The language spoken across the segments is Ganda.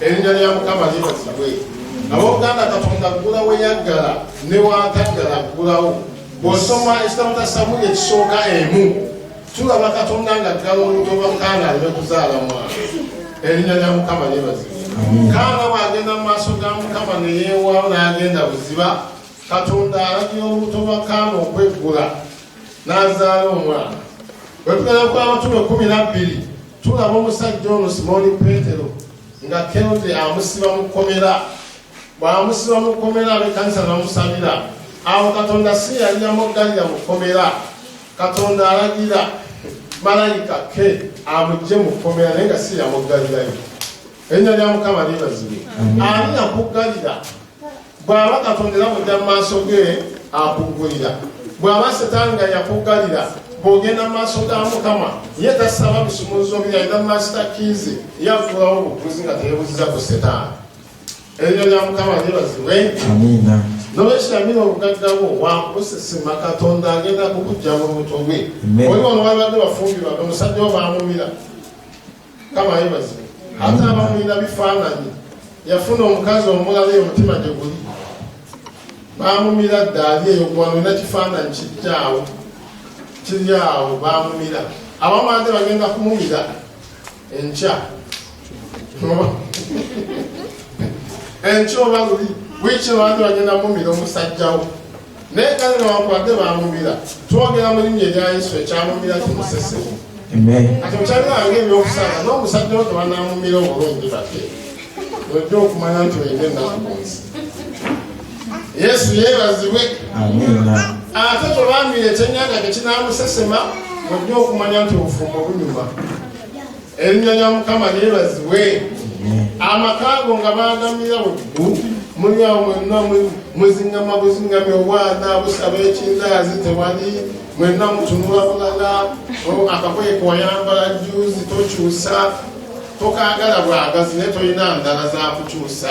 erinnya lya mukama libazibwe ab'oluganda katonda ggula we yaggala ne wataggala ggulawo bw'osoma ekitabo kya samuli ekisooka emu tulaba katonda nga ggala olutoba kaana ne kuzaala mwana erinnya lya mukama libazibwe kaana bw'agenda mu maaso ga mukama ne yeewaawo n'agenda buziba katonda alagira olubuto lwa kaana okweggula n'azaala omwana bwe tugenda ku abatume kumi nabbiri tulaba omusajja ono simooni peetero nga kerode amusiba mu kkomera bw'amusiba mu kkomera ab'ekkanisa namusabira awo katonda si yali yamuggalira mu kkomera katonda alagira malayika ke amugye mu kkomera naye nga si yamuggalirayo Erinnya lya Mukama lyebazibwe. Ani yakuggalira? Bw'aba Katonda era bw'ojja mu maaso ge akuggulira. Bw'aba Setaani nga yakuggalira bw'ogenda mu maaso ga Mukama ye tasaba bisumuluzo bye alina mu maaso ga kiizi ye afuulawo obufuzi nga teyebuziza ku Setaani. Erinnya lya Mukama lyebazibwe. Amiina. Nolwekyo yamira obugagga bwo wakusesema Katonda agenda kukujja mu lubuto lwe. Oli wano wabadde bafumbirwa omusajja wo baamumira. kama yebazibu ate abamulina bifaananyi yafuna omukazi omulala eyo mutima gye guli baamumira dda ali eyo kubanulina kifaananyi kijja awo kiri awo baamumira abamwade bagenda kumumira enkya enkya oba luli wiiki obade bagenda mumira omusajjawo naye kale newankubadde bamumira twogera mu linnya erya yesu ekyamumira kimusese kati okyaliranga ebyokusanga n'omusajja wo tebanamumira obulungi bate ojja okumanya nti oyina ennaku ku nsi yesu yeebazibwe ate tobambira ekyenyanja tekinamusesema ojja okumanya nti obufumbo bunyuma erinnya lya mukama lyebazibwe amakaago nga bagamira buggu muli awo mwenna muzingama buzingami obwana busaba ekindaazi tewali mwenna mutunula bulala akakoye kewayambala juzi tokyusa tokaagala bwagazi naye tolina ndala zakukyusa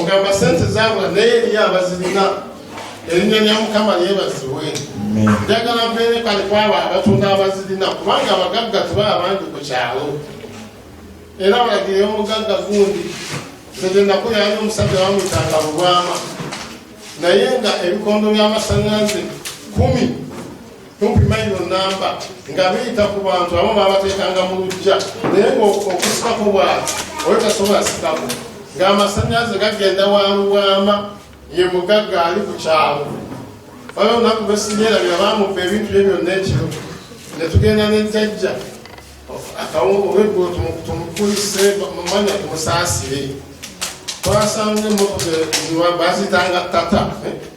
ogamba sente zabula naye eriyo abazirina erinnya lya mukama lyebazibwe njagala mbeere kale kwabo abatunda abazirina kubanga abagagga tuba abangi ku kyalo era balagire omugagga gundi zegenakuli ali omusajja wamwitanga lubwama naye nga ebikondo by'amasanganze kumi kumpi mayiro namba nga biyita ku bantu abo babateekanga mu lujja naye ngaokusikako bwati oyo tasobola sikako ng'amasannyalaze gagenda wanguwama ye mugagga ali ku kyalo baba olunaku lwesinyerabira bamubba ebintu bye byonna ekiro ne tugenda nejjajja olweggulo tumukulise mumanya tumusaasire twasanga emmotoka bazitanga tata eh?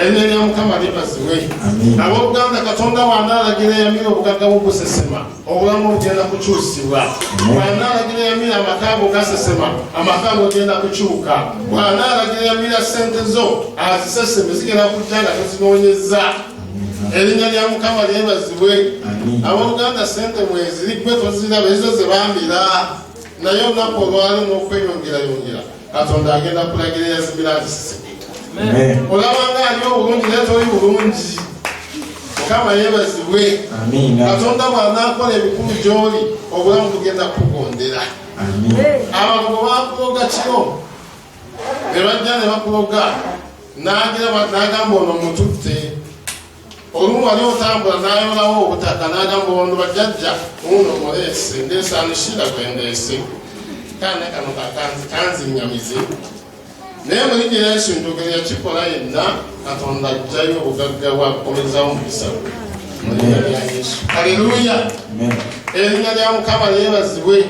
erinnya lya mukama libazibwe ab'oluganda katonda bw'anaalagira yamira obugagga bwo busesema obulamu bugenda kukyusibwa bw'anaalagira yamira amaka ago gasesema amaka ago genda kukyuka bw'anaalagira yamira ssente zo aziseseme zigenda kujja nga tozinoonyezza erinnya lya mukama lyebazibwe ab'oluganda ssente mweziriggwe toziraba ezo ze bambira naye olunaku olwalimu okweyongerayongera katonda agenda kulagira eyazimira azisisike olabanga ali obulungi naye toli bulungi mukama yebazibwe katonda bwanakola ebikulu gyoli obulamu bugenda kukugondera abago bakuloga kiro ne bajja ne bakuloga nagamba ono mututte olumu wali otambula nayolawo obutaka nagamba wano bajajja uno muleese ndesanushira gwendeese kaana kano kakanzi kanzinyamize naye mulinye yesu njogero yakikola yenna katonda ajjayo obugagga bwakukomezawo mukisa mulinya lya yesu aleluya erinnya lya mukama lyebazibwe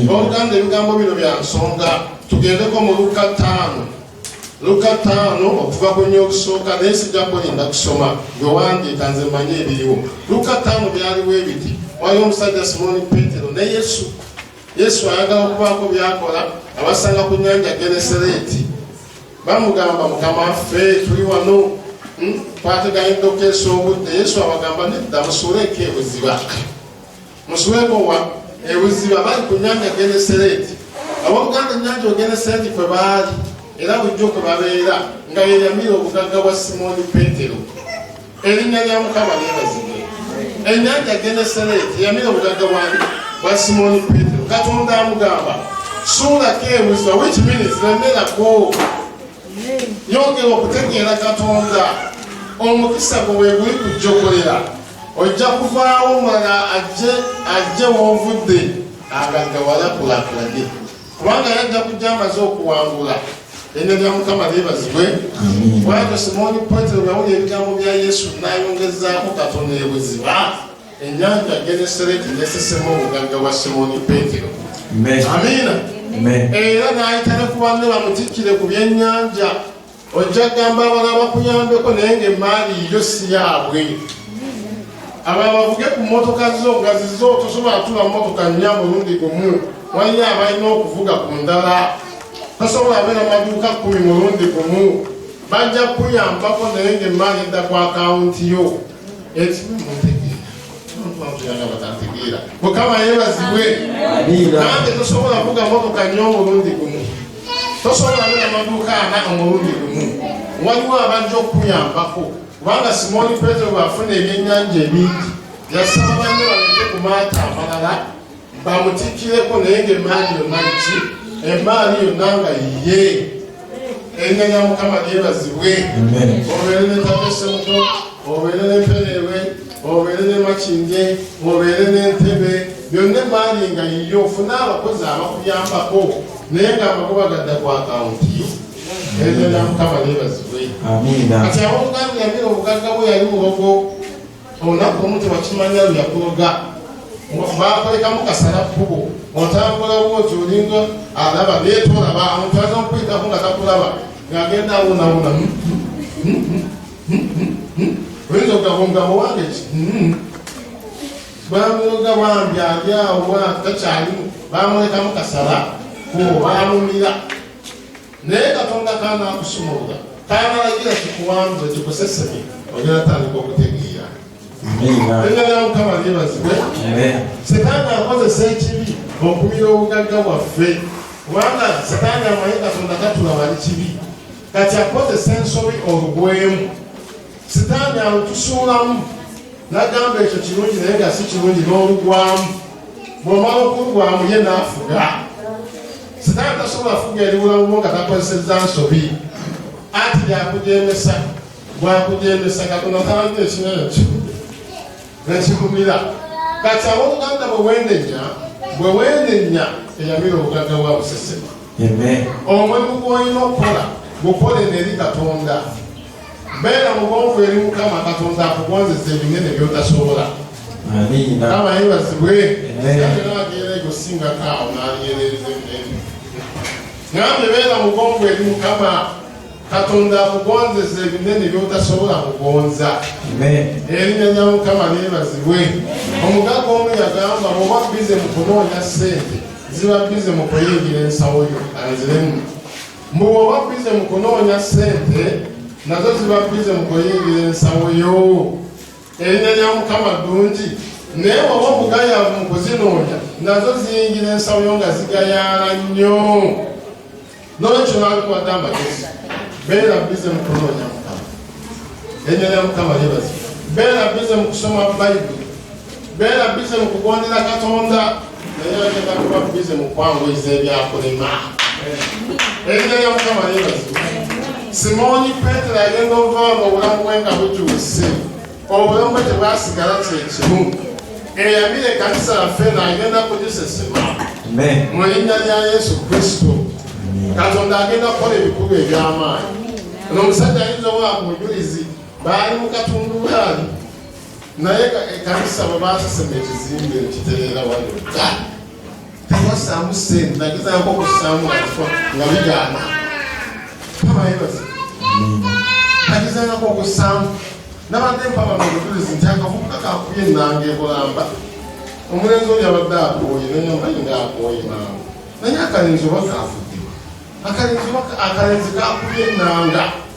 oluganda ebigambo bino bya nsonga tugendeko mu lukka ttaano luka ttaano okuva ku nyo okusooka naye sijja kulinda kusoma gwe wandiika nze mmanyi ebiriwo luka ttaano byaliwo ebiti waliwo omusajja simoni petero ne yesu yesu ayagala okubaako byakola abasanga ku nyanja genesereeti bamugamba mukama ffe tuli wano hmm? twateganyidde okukeesa obudde yesu abagamba nedda musuuleeko ebuziba Muswekowa ebuziba bali ku nyanja Genesereti ab'oluganda nyanja ogenesereti kwe baali era bulijjo kwe babeera nga yeyamira obugagga bwa simooni petero erinnya lya mukama lyebazibwe enyanja genesereti yamira obugagga bwani bwa simooni petero katonda amugamba suulako ebuziba which means remerako yongera okutegeera katonda omukisa gwe weguli kujjokolera Ojja kuvaawo mala ajje ajje w'ovudde agaggawala kulakulanye kubanga yajja kujja amaze okuwangula erinnya lya mukama lyebazibwe bwatyo simooni petero yawulira ebigambo bya yesu n'ayongezaako katono ebuziba ennyanja genesereti nesesemu obugagga bwa simooni petero amiina era n'ayita ne ku banne bamutikkire ku byennyanja ojja kugamba abala bakuyambeko naye nga emaali yo si yaabwe abala bavuge ku mmotoka zo nga zizo tosobola tula mmotoka nnya mulundi gumu waliyo abalina okuvuga ku ndala tosobola abeera maduuka kumi mulundi gumu bajja kuyambako naye nga emaali edda ku akawunti yo ekimu mutegeera twavuyanga batategeera mukama yebazibwe nange tosobola vuga motoka nyo omulundi gumu tosobola bera maduuka ana omulundi gumu waliwo abajja okukuyambako kubanga simoni petero bwafuna ebyenyanja ebingi yasaba banne balete ku maata amalala bamutikkireko naye ng'emmaali yonna ki emmaali yonna nga yiye erinnya lya mukama lyebazibwe obeere ne tatesemuto obeere n'emperewe obeere ne makinde obeere n'entebe byonna emmaali nga yiye ofune abakozi abakuyambako naye ng'amakuba gadda ku akawunti yo erinnya lya mukama lyebazibwe kati ab'obuganda yamira obugagga bwe yali mubogo olunaku omu tewakimanya luyakuloga bakolekamu kasala kubo otambulawo oti olinga alaba netolaba omuntu aza okuyitako nga takulaba ngagenda awonawona hmm? Hmm? Hmm? oyinza okugamba omugabo wange ki bamuloga bambi ali awo takyalimu bamulekamu kasala kubo bamumira naye katonda kanakusumulula kanalagira kikuwambule kikuseseme onyala tandika okutegeera engala mukama lyebazibwe setaani akozesa ekibi okumira obugagga bwaffe kubanga setaani amanyi katonda katula wali kibi kati akozesa ensobi olugwemu setaani alutusuulamu nagamba ekyo kirungi naye nga si kirungi n'olugwamu bwomala okulugwamu ye naafuga sitaani tasobola fuga eriwulamumu nga takozesezza nsobi anti lyakujemesa bwakujemesa katonda talanyo ekina ekyo nekigumira kati ab'oluganda bwe wendenya bwe wendenya eyamira obugagga bwa busesema omulimu gwolina okukola gukole neri katonda beera mugonvu eri mukama katonda akugonzesa ebinene byotasobola kama yebazibwe ageera egosingako awo naliyerereza ebinene ngambe beera mugonvu eri mukama katonda akugonzesa ebinene byotasobola kugonza erinya lya mukama lyebazibwe omugaga omu yagamba bwoba bize mu kunoonya sente ziba bize mu kuyingira ensawo yo anziremu Mbu oba bize mu kunoonya ssente nazo ziba bize mu kuyingira ensawo yo. Erinnya lya Mukama ddungi naye oba omugayaavu mu kuzinoonya nazo ziyingira ensawo yo nga zigayaala nnyo. N'olwekyo nalikuwadde amagezi beera bize mu kunoonya Mukama. Erinnya lya Mukama lyebazibwa. Beera bize mu kusoma Bayibuli. beera bize mu kugondera katonda naye agenda kuba bize mu kwanguyiza ebyakulima erinnya lya mukama yebazibu simooni petero agenda ovaamu obulamu bwe nga bukyuse obulamu bwe tebwasigala kyekimu eyamira ekanisa yaffe naagenda kugisesema mu linnya lya yesu kristo katonda agenda kukola ebikulu eby'amaanyi ono omusajja ayinza owa mujulizi baali mu katundubaali naye ekanisa bwebaasasema ekizimbe ekitereera wano tewasaamu sente nagezako okusaamu afa nga bigaana tabayebaza nagezangako okusaamu nabadde mpaba mubujulizi nti akavubuka kakuye enanga ebulamba omulenzi oli abadde akooye nayambaye nga akooye mangu naye akalenzi oba kaafudde akalenzi akalenzi kakuye enanga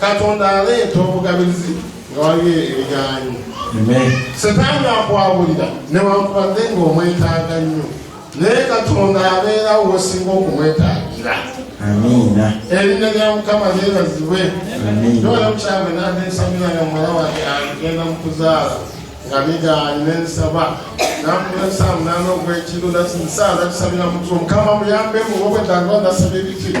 katonda aleeta obugabirizi nga waliwo ebigaanyi setaani akwabulira newankubadde nga omwetaaga nnyo naye katonda abeerawo wesinga okumwetaagira amiina erinnya lya mukama lyebazibwe nola mukyabwe nanesamira nga muwala wange agenda mu kuzaala nga bigaanyi nensaba namulesamu nana ogwekiro nasinsaala tusabira mutwe mukama muyambemu obwetaaga nasaba ebikiri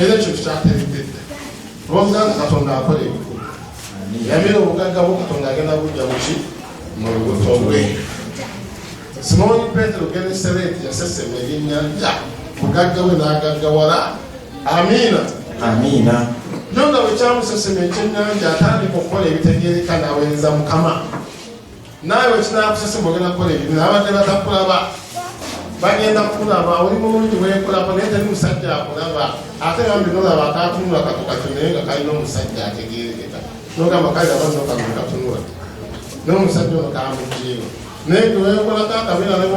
era ekyo tukyategekedde olwomuganda katonda akola ebikulu yamira obugagga bwo katonda agenda bujja muki mu lubuto lwe simooni petero genesereti yasesema ebyennyanja mugagga we n'agaggawala amiina amiina nyo nga bwekyamusesema ekyennyanja atandika okukola ebitegeereka n'aweereza mukama naawe wekinakusese mugenda kukola ebintu abadde batakulaba bagenda kulaba oli mulungi wekulako naye teri musajja akulaba ate bambi nolaba akatunula kako kati naye nga kalina omusajja ategerekeka nogamba kale abanokano katunula nomusajja ono kamujiimu naye gewekolako akabeera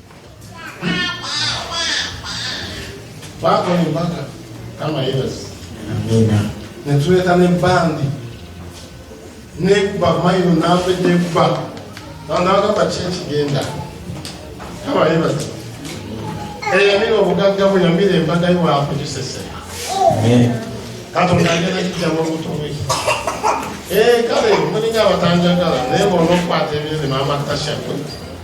Baba ni mpaka kama yebazi. Amina. Netuleta ne bandi. Nekuba mailo nafe nekuba. Naonawaka pa chechi genda. Kama yebazi. Eya mimi obugagga bwe yamire embaga yo wafu kisese. Amen. Kato ndagenda kijja mu buto bwe. Eh kale mulinya abatanjagala naye bw'onokwata ebintu ne maama tasha kwe.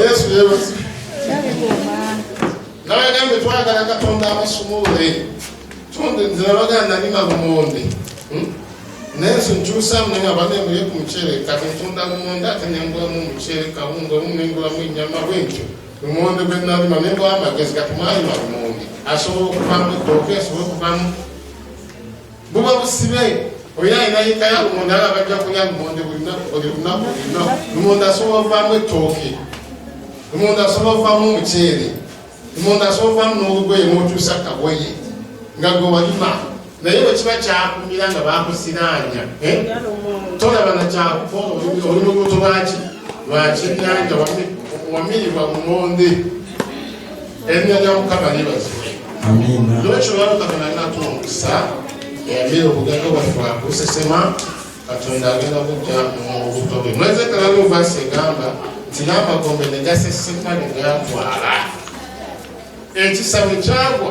Yesu yebazi. Nawe gambe twagala Katonda abasumule. Tonde nzira baganda ni mabumonde. Hmm? nensi nkyusa munene abadde mbuye ku muceere kati ntunda lumonde ate nengulamu omuceere kawunga olumu nengulamu ennyama bwentyo lumonde gwe nalima nengula amagezi kati mwalima lumonde asobola okuvamu ettooke asobola okuvamu buba busibe olina alina yika ya lumonde ala bajja kulya lumonde buli lunaku lino lumonde asobola ovaamu ettooke lumonde asobola ovaamu omuceere lumonde asobola ovaamu n'olugoye n'okyusa kagoye nga gwe walima naye bwe kiba kyakumira nga bakusiraanya eh? tolaba na kyakuko oli mubuto lwaki lwakyenyanja wamirirwa lumonde erinnya lya mukama libazibwe nolwekyo lwalukama nalina tuma omukisa yabeera obugagga bwaffe bwakusesema katonda agenda kujja mubuto bwe mweze kalalu vasi egamba nti n'amagombe ne gaseseka ne gatwala ekisabo kyagwa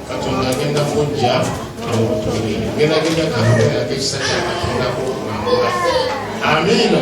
katonda agenda kujja nobutuulire gerageza katonda yako ekisa kya katonda kukuwangula amiina